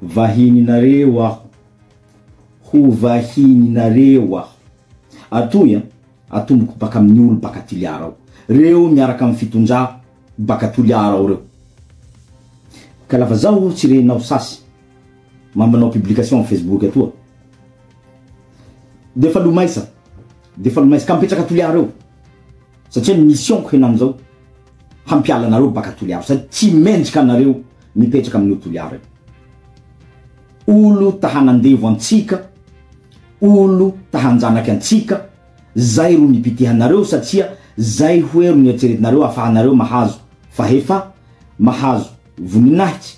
Vahininareo aho, ho vahininareo aho. Atoy an, atomboko baka amin'ny olo baka Toliara ao. Reo miaraka amin'ny fitondrà baka Toliara ao reo. Ka lafa zaho tsy renao sasy. Mampanao publication am Facebook atoa defa lo maisa defa lo maisa ka mipetraka a Toliara eo satria ny mission ko henanizao hampiala anareo baka Toliara sady tsy mendrika anareo mipetraka amin'io Toliara io olo ta hanandevo antsika olo ta hanjanaky antsika zay ro nipitihanareo satria zay hoe ro nieritreretinareo afahanareo mahazo fahefa mahazo voninahitsy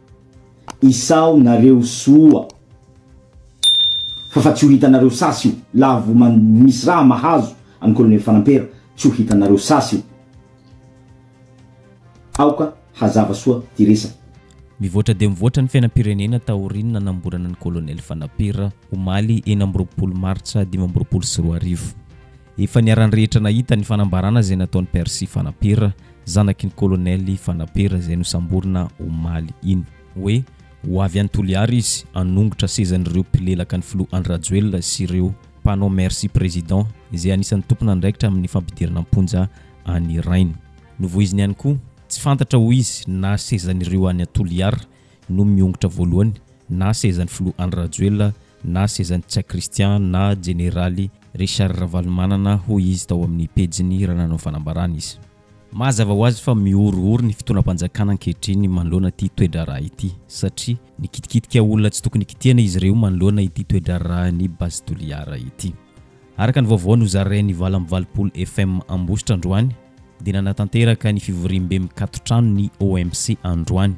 Isao nareo soa fa fa tsy ho hitanareo sasy io la vo man misy raha mahazo an'i colonel fanampera tsy ho hitanareo sasy io aoka hazava soa ty resaka. Mivoatra dia mivoatra ny fiainam-pirenena taorian'ny nanamborana an'i colonel fanampera. omaly enina amby roapolo martsa dimy amby roapolo sy roa arivo. Efa niharan'ny rehetra nahita ny fanambarana izay nataon'i Percy Fanapera, zanaky ny kolonely Fanapera izay nosamborina omaly iny, hoe ho avy any Toliara izy hanongotra sezan'ireo mpilelaka ny filoha Andry Rajoelina sy ireo mpanao Merci Président izay anisan'ny tompon'andraikitra amin'ny fampidirana am-ponja an'i Rainy. Novoiziny ihany koa, tsy fantatra hoy izy na sezan'ireo any Toliara no miongotra voalohany na sezan'ny filoha Andry Rajoelina na sezan'i Tsia Christian na jeneraly Richard Ravalomanana hoy izy tao amin'ny pejiny raha nanao fanambarana izy. Mazava ho azy fa mihorohoro ny fitondram-panjakana ankehitriny manoloana ity toe-draharaha ity satria nikitikitika olona tsy tokony kitihana izy ireo manoloana ity toe-draharahan'i Base Toliara ity. Araka ny vaovao nozarain'ny Vala amin'ny valopolo FM Ambositra androany dia nanatanteraka ny fivoriambe mikatotrano ny OMC androany,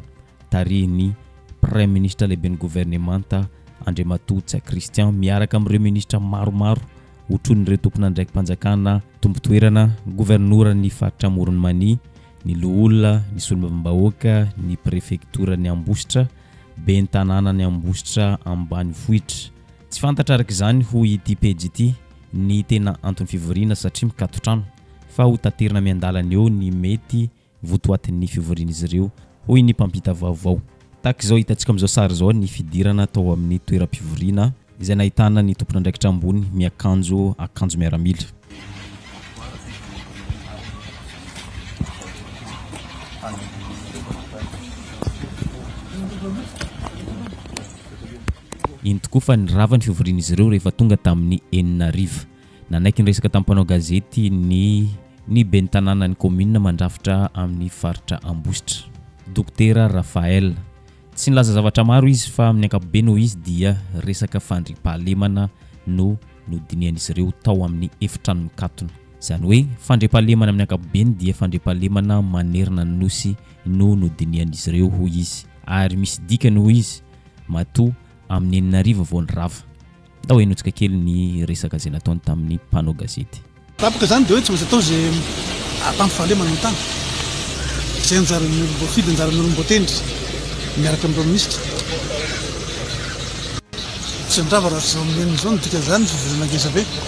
tarihin'ny Praiminisitra Lehiben'ny Governemanta Andriamatoa Ntsay Christian miaraka amin'ireo Minisitra maromaro otronin'ireo tompon'andraiki-panjakana, Tompo toerana, Governoran'ny Faritra Amoron'i Mania, ny Loholona, ny Solombavambahoaka, ny Prefektoran'i Ambositra, Ben'ny Tanànan'i Ambositra Ambanivohitra. Tsy fantatra araka izany, hoy ity pejy ity, ny tena anton'ny fivoriana satria mikaton-trano, fa hotaterina miandalana eo ny mety votoatin'ny fivorian'izy ireo, hoy ny mpampita vaovao. Tahaka izao hitantsika amin'izao sary izao ny fidirana tao amin'ny toeram-pivoriana izay nahitana ny tompon'andraikitra ambony miakanjo akanjo miaramila. Eny tokoa fa nirava ny fivorian'izy ireo rehefa tonga tamin'ny enina hariva. Nanaiky niresaka tamin'ny mpanao gazety ny ny ben'ny tanànan'ny kaominina mandrafitra amin'ny faritra Ambositra, Dokotera Raphaël. Tsy nilaza zavatra maro izy fa amin'ny ankapobeny hoy izy dia resaka fandriampahalemana no nodinihan'izy ireo tao amin'ny efitrano mikatona. Izany hoe fandriampahalemana amin'ny ankapobeny dia fandriampahalemana manerana ny Nosy no nodinihan'izy ireo hoy izy ary misy dikany hoy izy matoa amin'ny enina arivo vao nirava. Ndao henotsika kely ny resaka izay nataony tamin'ny mpanao gazety. Tapaka izany dia hoe tsy maintsy atao izay hahatanty fahalemana ny tany. Izay anjaran'ny olom-boafidy, anjaran'ny olom-boatendry miaraka amin'ny Praiminisitra. Tsy handrava raha tsy izao amin'ny enina izao no dikan'izany, fivelana ngezabe.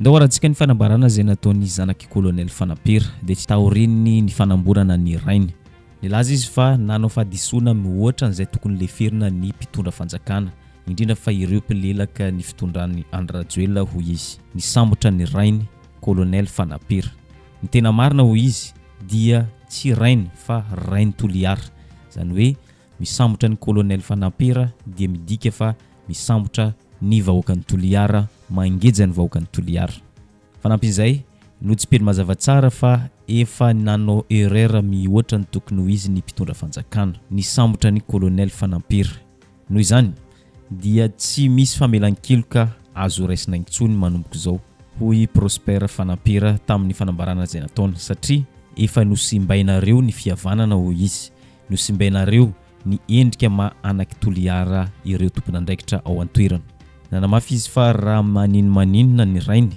Ndao harantsika ny fanambarana izay nataon'ny zanak'i Kolonely Fanapera, dia tsy taorian'ny nifanamborana ny rainy. Nilaza izy fa nanao fahadisoana mihoatra an'izay tokony leferina ny mpitondra fanjakana, indrindra fa ireo mpilelaka ny fitondran'i Andry Rajoelina, hoy izy. Nisambotra ny rainy, Kolonely Fanapera. Ny tena marina, hoy izy, dia tsy rainy fa rain'i Toliara. Izany hoe. Misambotra ny Colonel Fanampera dia midika fa misambotra ny vahoakan'i Toliara, mangeja ny vahoakan'i Toliara. Fanampin'izay, notsipeny mazava tsara fa efa nanao erreur mihoatra ny tokony ho izy ny mpitondra fanjakana, nisambotra ny Colonel Fanampera. Noho izany, dia tsy misy famelan-keloka azo raisina intsony manomboka izao, hoy Prosper Fanampera tamin'ny fanambarana izay nataony, satria efa nosimbainareo ny fihavanana, hoy izy. Nosimbainareo ny endrika maha anak'i Toliara ireo tompon'andraikitra ao an-toerana. Nanamafy izy fa raha maninomaninona ny rainy,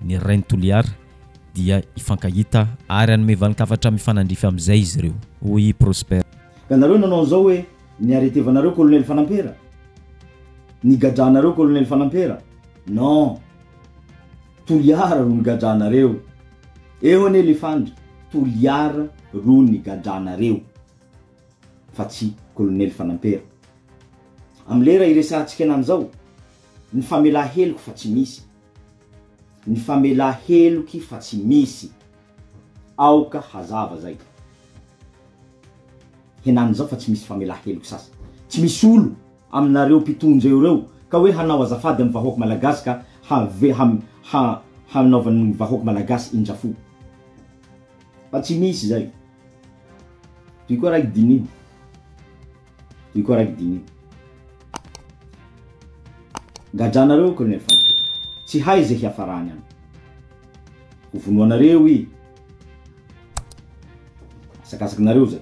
ny rain'i Toliara, dia hifankahita ary hanome valin-kafatra mifanandrify amin'izay izy ireo, hoy i Prosper. Ka nareo nanao an'izao hoe, ny arretevanareo Colonel Fanampera? Ny gadranareo Colonel Fanampera? Non! Toliara no nigadranareo! Eo anie lefandry toliara ro nigadranareo fa tsy kolonely fanampera. Am lera iresahantsika anany zao ny famela heloky fa tsy misy. Ny famela heloky fa tsy misy. Aoka hazava zay. Henany zao fa tsy misy famela heloky sasa. Tsy misy olo. aminareo mpitondra eo reo ka hoe hanao azafady am vahoak malagasy ka have ha ha hanaovan ny vahoak malagasy indrafo fa tsy misy zay toy koa raiky diniho toy koa raiky diniho gadranareo colonel fantoka tsy hay ze hiafarany an ho vonoanareo i asakasakinareo zay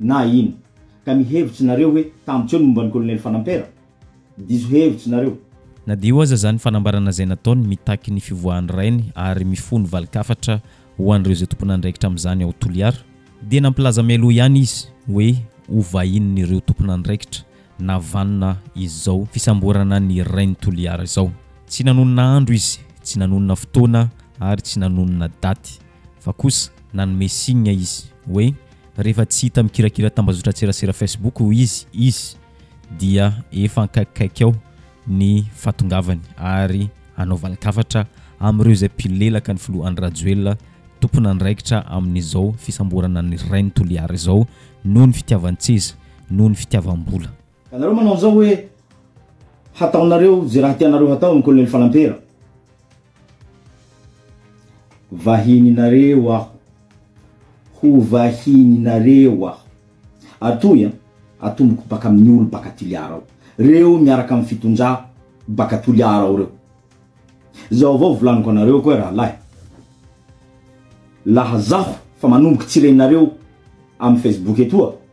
Na ino. Ka ny hevitry nareo hoe tambotry eo ny momba ny kolonely fanampera? Diso hevitry nareo. Na dia io aza izany fanambarana izay nataony mitaky ny fivoahan'ny rainy ary mifono valin-kafatra ho an'ireo izay tompon'andraikitra amin'izany ao Toliara, dia nampilaza mialoha ihany izy hoe ho vahinin'ireo tompon'andraikitra na vanona izao fisamborana ny rain'i Toliara izao. Tsy nanonona andro izy, tsy nanonona fotoana ary tsy nanonona daty fa kosa nanome signe izy hoe Rehefa tsy hita mikirakira tambazotran-tserasera Facebook hoy izy, izy dia efa ankaikikaiky ao ny fahatongavany ary hanao valin-kafatra amin'ireo izay mpilelaka ny filoha Andry Rajoelina, tompon'andraikitra amin'izao fisamborana an'i Rainy Toliara izao noho ny fitiavan-tseza, noho ny fitiavam-bola. Ianareo manao an'izao hoe hataonareo izay raha tianareo hatao amin'ny kolonely Falampera. Vahininareo aho. Ho vahininareo aho. Atoy an, atomboko baka amin'ny olo baka Toliara ao. Reo miaraka amin'ny fitondrà baka Toliara ao reo. Zao avao volaniko anareo koa rahalahy. Laha zaho fa manomboky tsy renareo amin'ny Facebook etoa.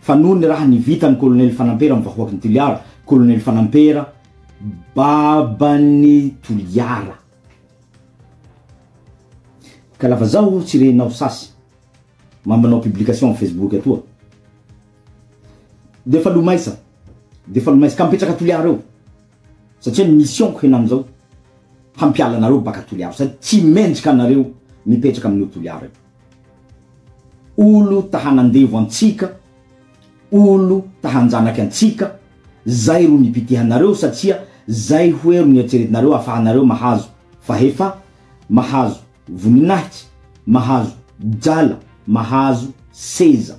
Fa noho ny raha nivitan'ny Kolonely Fanampera amin'ny vahoaky ny Toliara, Kolonely Fanampera, baban'ny Toliara. Ka lava zao o, tsy renao sasy, ma manao publication amin'ny Facebook atoa. De fa lomaisa, de fa lomaisa, ka mipetraka Toliara eo, satria ny mission-ko henany zao, hampiala anareo baka Toliara, sady tsy mendrika anareo mipetraka amin'io Toliara io. Olo ta hanandevo antsika, olo ta hanjanaky antsika, zay ro nipitihanareo satria zay hoe ro nieritreretinareo afahanareo mahazo fahefa, mahazo voninahitsy, mahazo drala, mahazo seza.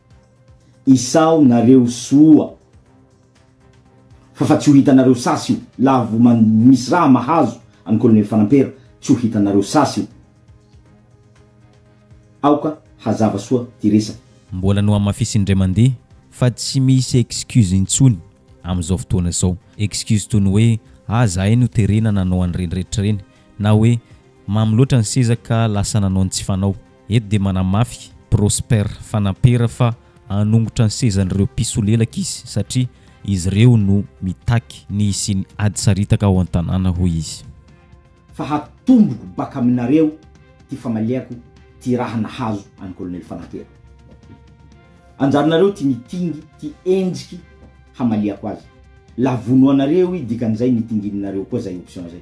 Isao nareo soa fa fa tsy ho hitanareo sasy io laha vo man misy raha mahazo an'i Colonel Fanampera tsy ho hitanareo sasy io. Aoka hazava soa ty resaka. Mbola nohamafisiny indray mandeha fa tsy misy excuse intsony amin'izao fotoana izao. Excuse toy ny hoe ah zahay no terena nanao an'ireny rehetra ireny na hoe mamy loatra ny seza ka lasa nanao ny tsy fanao. Eto dia manamafy Prosper Fanampera fa hanongotra ny sezan'ireo mpisolelaka izy satria izy ireo no mitaky ny hisian'ny ady saritaka ao an-tanàna hoy izy. Fa hatomboko baka aminareo ty famaliako ty raha nahazo an'i Kolonely Fanampera. Anjaranareo ty mitingy ty endriky hamaliako azy. La vono anareo i dikan'izay ny itingininareo koa zay option zay.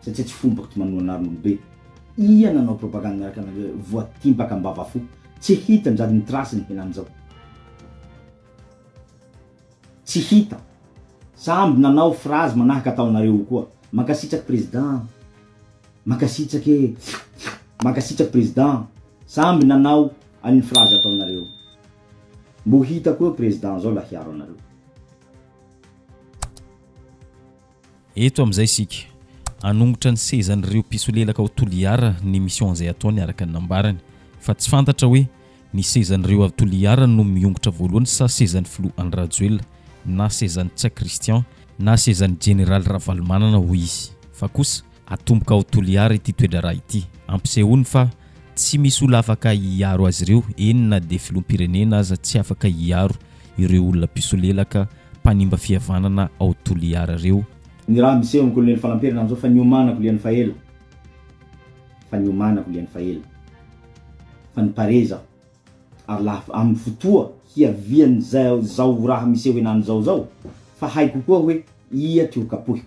satria tsy fomba kty manoa anarn olobe ia nanao propagande miaraka anareo voatimpaka ambava fo tsy hita njady ny trace ny henany zao tsy hita samby nanao phrase manahaka ataonareo io koa mankasitraky president mankasitraky e mankasitraky president samby nanao an'ny phrase ataonareo mbo hita koa president zao la hiaro anareo Eto amin'izay isika. Hanongotra ny sezan'ireo mpisolelaka ao Toliara ny mission izay ataony araka ny nambarany. Fa tsy fantatra hoe ny sezan'ireo avy Toliara no miongotra voalohany sa sezan'ny filoha Andry Rajoelina na sezan'i Ntsay Christian na sezan'ny jeneraly Ravalomanana hoy izy. Fa kosa. Atomboka ao Toliara ity toedraharaha ity. Ampisehoany fa tsy misy olona afaka hiaro azy ireo, eny na dia filoham-pirenena aza tsy afaka hiaro ireo olona mpisolelaka mpanimba fihavanana ao Toliara ireo. Ny raha miseho amin'ny kolonely Falamperina amin'izao fa niomanako lian'ny faela, fa niomanako lian'ny faela, fa niparez aho, ary laha amin'ny fotoa hiavian'izao raha miseho henany izao izao, fa haiko koa hoe ia ty ho kapohiko.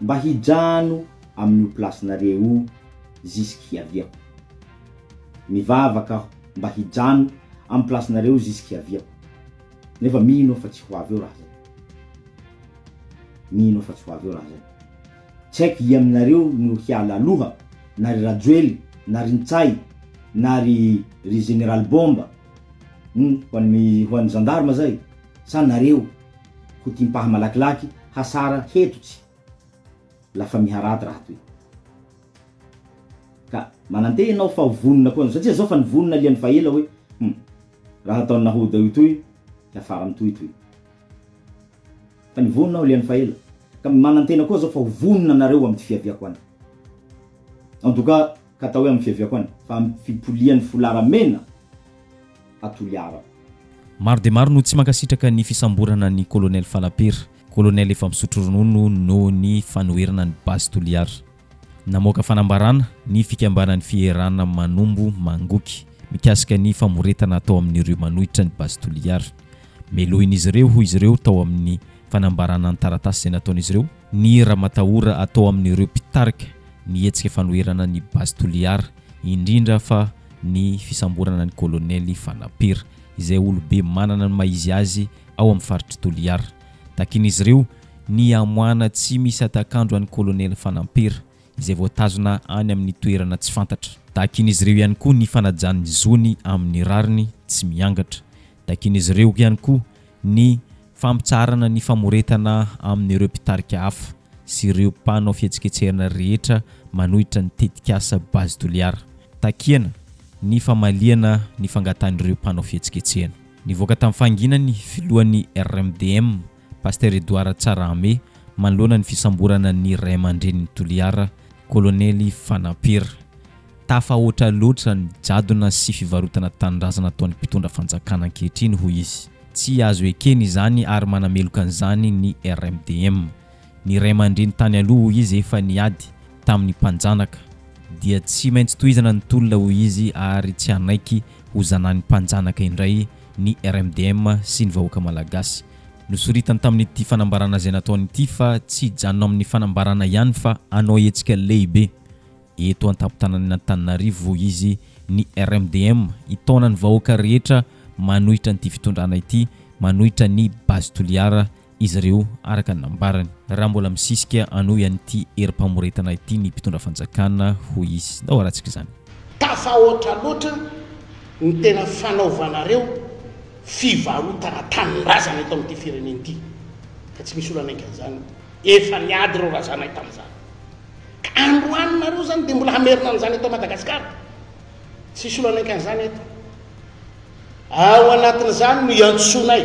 Mba hijano amin'io place-nareo io zisik-hiaviako. Mivavaka aho mba hijano amin'ny place-nareo io zisik-hiaviako. Nefa mino aho fa tsy ho avy eo raha zay. Mino aho fa tsy ho avy eo raha zay. Tsy haiko ia aminareo no hiala aloha, na ry Rajoely, na ry Ntsay, na ry ry Général Bomba, humm, ho an'ny ho an'ny gendarme zay, sa nareo? Ko timpaha malakilaky hasara heto tsy la famille rad raha toy ka mananteha enao fa ho vonona koa satria zao fa nivonona liany fa ela hoe hum raha ataony nahoda io toy hiafara mitohy toy fa nivonona aho liany fa ela ka manantena koa zao fa ho vonona nareo amty fiaviako any en tout cas Ka atao hoe amin'ny fiaviako any, fa amin'ny fipolian'ny folara mena a Toliara. Maro dia maro no tsy mankasitraka ny fisamborana an'i Colonel Falapera, Colonel efa misotro ronono noho ny fanoherana ny Base Toliara. Namoaka fanambarana ny fikambanan'ny fierana Manombo Mangoky mikasika ny famoretana atao amin'ireo manohitra ny Base Toliara. Melohin'izy ireo, hoy izy ireo tao amin'ny fanambarana an-taratasy izay nataon'izy ireo, ny ramatahora atao amin'ireo mpitarika ny hetsika fanoherana ny Base Toliara, indrindra fa ny fisamborana ny Kolonely Fanapera, izay olobe manana ny maha-izy azy ao amin'ny faritr'i Toliara. Takian'izy ireo ny hamoahana tsy misy hatak'andro an'i Kolonely Fanapera, izay voatazona any amin'ny toerana tsy fantatra. Takian'izy ireo ihany koa ny fanajana ny zony amin'ny rariny tsy miangatra, Takian'izy ireo ihany koa ny fampitsaharana ny famoretana amin'ireo mpitarika hafa sy ireo mpanao fihetsiketsehana rehetra manohitra ny tetikasa Base Toliara. Takiana ny famaliana ny fangatahan'ireo mpanao fihetsiketsehana. Nivoaka tamin'ny fahanginany ny filohan'ny RMDM, Pasitera Edouard Tsarahame, manoloana ny fisamborana ny ray aman-drenin'i Toliara, Kolonely Fanampera. Tafahoatra loatra ny jadona sy fivarotana tanindrazana ataon'ny mpitondra fanjakana ankehitriny, hoy izy. Tsy azo ekena izany ary manameloka an'izany ny RMDM. Ny ray aman-dreny tany aloha, hoy izy, efa niady tamin'ny mpanjanaka. Dia tsy maintsy tohizana ny tolona, hoy izy, ary tsy hanaiky ho zanany mpanjanaka indray ny RMDM sy ny vahoaka Malagasy. Nosoritany tamin'ity fanambarana izay nataony ity fa tsy hijanona amin'ny fanambarana ihany fa hanao hetsika lehibe eto an-tampon-tananan'Antananarivo izy, ny RMDM, hitaona ny vahoaka rehetra manohitra an'ity fitondrana ity, manohitra ny Base Toliara, izy ireo, araka ny nambarany. Raha mbola misisika hanohy an'ity herim-pamoretana ity ny mpitondra fanjakana, hoy izy, na ho haratsika izany. Tafahoatra loatra ny tena fanaovanareo fivarotana tanindrazana eto amin'ity firenena ity ka tsy misy olana enkan'izany efa niady ireo razanay tamin'izany ka androany nareo izany dia mbola hamerina an'izany eto Madagasikara tsy hisy olana enkan'izany eto ao anatin'izany no hiantsoanay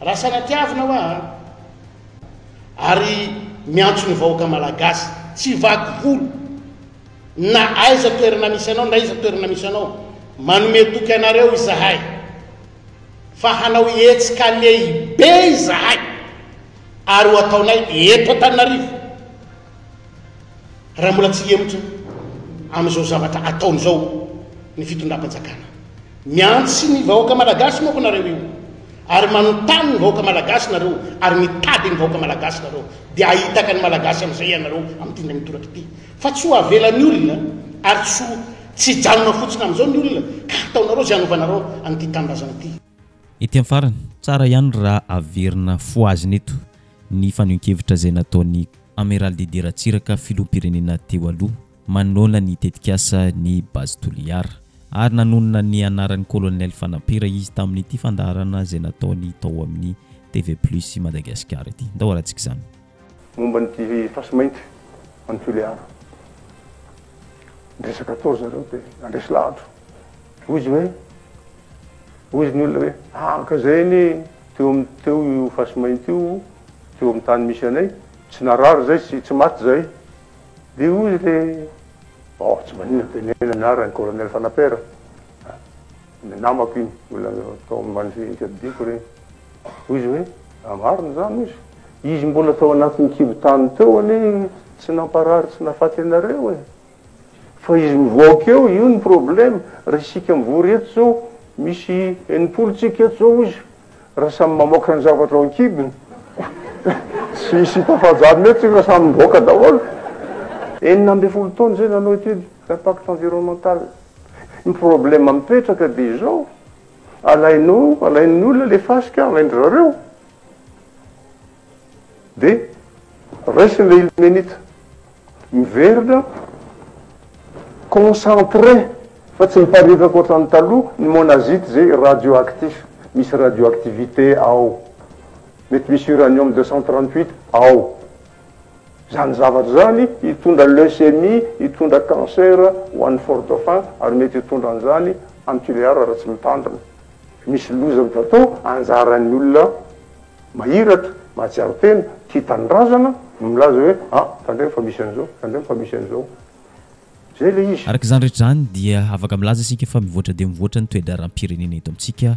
Raha sanatiavina hoa a! Ary miantso ny vahoaka malagasy, tsy vaky volo, na aiza toerana misy anao, na iza toerana misy anao, manome toky anareo izahay, fa hanao hetsika lehibe izahay, ary ho ataonay eto Antananarivo. Raha mbola tsy hihemotra amin'izao zavatra ataony izao ny fitondram-panjakana. Miantsy ny vahoaka malagasy moa ko nareo io, ary manontany ny vahoaka malagasy nareo, ary mitady ny vahoaka malagasy nareo, dia ahitaka ny malagasy amin'izay ianareo amin'ity indray mitoraka ity. Fa tsy ho avela ny olona, ary tsy ho tsy hijanona fotsiny amin'izao ny olona, ka hataonareo izay hanovanareo an'ity tanindrazana ity. Ety amin'ny farany, tsara ihany raha averina fohazina eto ny fanehoan-kevitra izay nataon'i Amiral Didier Ratsiraka, filoham-pirenena teo aloha, manoloana ny tetikasa ny Base Toliara. Ary nanonona ny anaran'ny Kolonely Fanampera izy tamin'ity fandaharana izay nataony tao amin'ny TV Plus Madagasikara ity. Ndao harantsika izany. Momba ny dihy-fasy mainty any Tulear. Niresaka tao ry zareo dia nandresy lahatra. Hoy izy hoe, hoy izy ny olona hoe, araka izay anie teo amin'ny teo io fasy mainty io teo amin'ny tany misy anay, tsy narary izahay sy tsy maty izahay. Dia hoy ilay, oh, tsy maninona, teneno ny anaran'i Colonel Fanaper. Ny namako iny, mbola tao amin'ny mandry-jihinika didiako ireny. Hoy izy hoe, raha marina izany hozy, izy mbola tao anatin'ny kibon-tany teo anie tsy namparary tsy nahafaty anareo e! Fa izy mivoaka eo, io no probleme, raha isika mivory eto izao, misy enimpolo tsika eto izao hozy, raha samy mamoaka ny zavatra ao an-kibony, tsy hisy hita fahajanona eto isika fa samy mivoaka daholo. Enina ambin'ny folo taona izay nanao étude d'impact environnemental. Ny problème mipetraka dia izao, alainao, alain'ny olona ilay fasika, alain-dry zareo, dia raisin'ilay ilmenita, miverina concentré fa tsy miparitaka ohatran'ny taloha ny monazite izay radioactif, misy radioactivité ao, mety misy uranium deux cent trente huit ao. Izany zavatra izany hitondra leucémie, hitondra cancer ho an'ny fort dauphin ary mety hitondra an'izany any Tulear raha tsy mitandrina. Misy loza azo atao, anjaran'ny olona mahiratra, mahatsiaro tena, tia tanindrazana no milaza hoe a, tandremo fa misy an'izao, tandremo fa misy an'izao. Izay ilay izy. Araka izany rehetra izany dia afaka milaza isika fa mivoatra dia mivoatra ny toe-draharaham-pirenena eto amintsika,